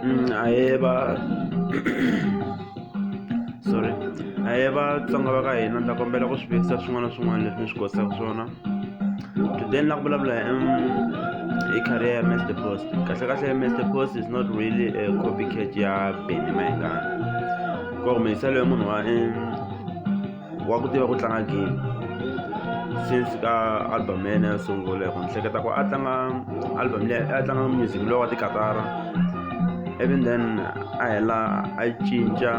Mm, ahee va sorry ahee vatsonga va ka hina ndza kombela ku swi vekisa swin'wana na swin'wana leswi ni swi kosaka swona today ni la ku vulavula hi hi career ya master post kahle kahle ya master post is not really a copycat ya beny mayengana ku humeliselo ya munhu wa wa ku tiva ku tlanga game since ka album ya yena yo sungula hi ku ni hleketa ku a tlanga album leyi a tlanga music lowu wa tikatara even then a hela a cinca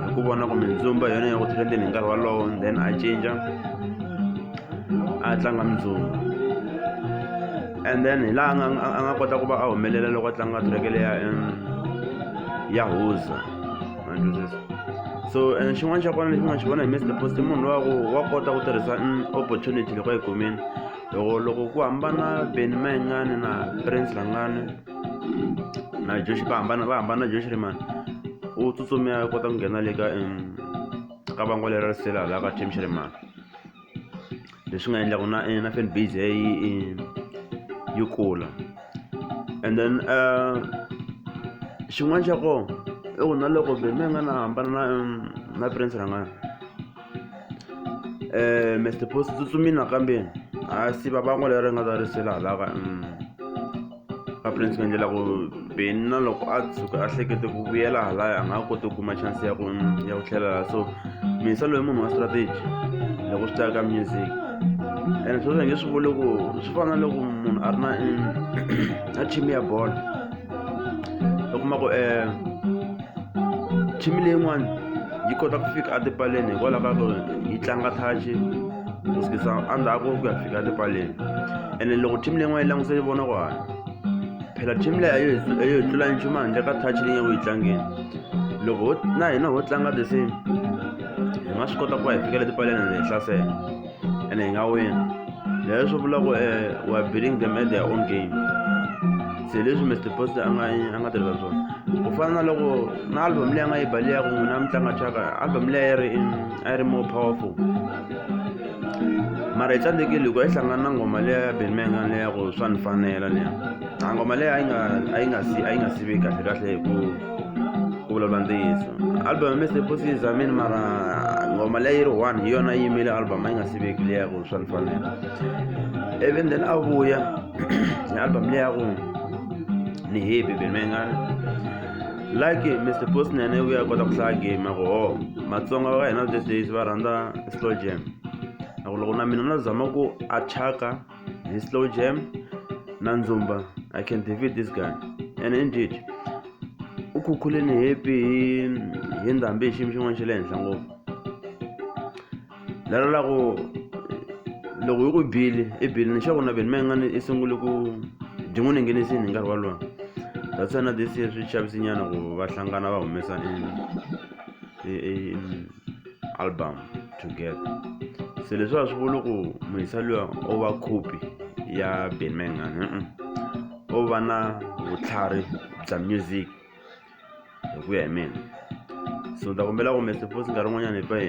hi ku vona kumbe ndzumba hi yona ya ku trending hi nkarhi walowo then a cinca a tlanga mindzumba and then hi laha nga- a nga kota ku va a humelela loko a tlanga track leya em, ya huza so and xin'wana xa kona lexi nga xi vona hi mr post munhu lowa ku wa kota ku tirhisa opportunity loko yi kumini loko loko ku hambana beni mayengani na prince langani na josh va hambana va hambana na josh rimani u tsutsumia kota ku nghena le ka ka vangwa leri risela laha ka team xi rimani leswi nga endla ku na na fan base ya yi yi kula and then xin'wana xa kona i ku na loko byi mi nga na hambana na na prince rhangana um mister post tsutsumini nakambe ha siva van'wa leri nga ta risela halaka . a prince ku endlela ku beni na loko a tshuka a hlekete ku vuyela halaya a nga ha koti ku kuma chance ya ku ya ku tlhelela so misa loyi munhu wa strategy loko swi teka music and swo swi nge swi vuli ku swi fana na loko munhu a ri na na team ya bolo u kuma ku um team leyin'wana yi kota ku fika etipaleni hikwalaho ka ku yi tlanga touch ku sukisa endzhaku ku ya fika le paleni ene loko team leyi n'wana yi languse yi vona ku hanya phela team leyi a yo hi- a yo hi tlula nchumu handle ka touch leyi nga ku yi tlangeni loko ho- na hina ho tlanga the same hi nga swi kota ku va hi fikela tipaleni ende hi hlasela ene hi nga wina leyo swi vula ku eh, we are beating them at their own game se leswi mr post a nga a nga tirhisa swona ku fana na loko na album leyi a nga yi baliyaku n'wina a mi tlanga chaka album leyi a yi ri in a yi ri more powerful mara hi tsandzekile loko yi hlangana na ngoma leya ya benmenga leya ku swa ni fanela leya a ngoma leyi a yi nga a yi nga si a yi nga sivi kahle kahle hi ku ku vulavula ntiyiso album ya mr pussy is amin mara ngoma leyi ri one hi yona yi yimile album a yi nga siveki leya ku swa ni fanela even then a vuya hi album leya ku ni happy benmenga like mr post nene u ya kota ku hlaya game ya ku ho matsonga va ka hina these days va rhandza slow jam na ku loko na mina na zama ku achaka hi slow jam na ndzumba i can defeat this guy and indeed u khukhuleni hepi hi ndhambi hi xiyimo xin'wana xa le henhla ngopfu lero la ku loko yi ku bile i bile ni xaku na veni ma nga ni i sungule ku byi n'wi ninginisini hi nkarhi walowo that's why na this year swi chavisinyana ku va hlangana va humesa album together se leswi a swi vuli ku muhisa luya o va khopi ya ben mangani o va na vutlhari bya music hi ku ya hi mina so ni ta kombela ku mi suppose nkarhi wun'wanyani hi pfa hi .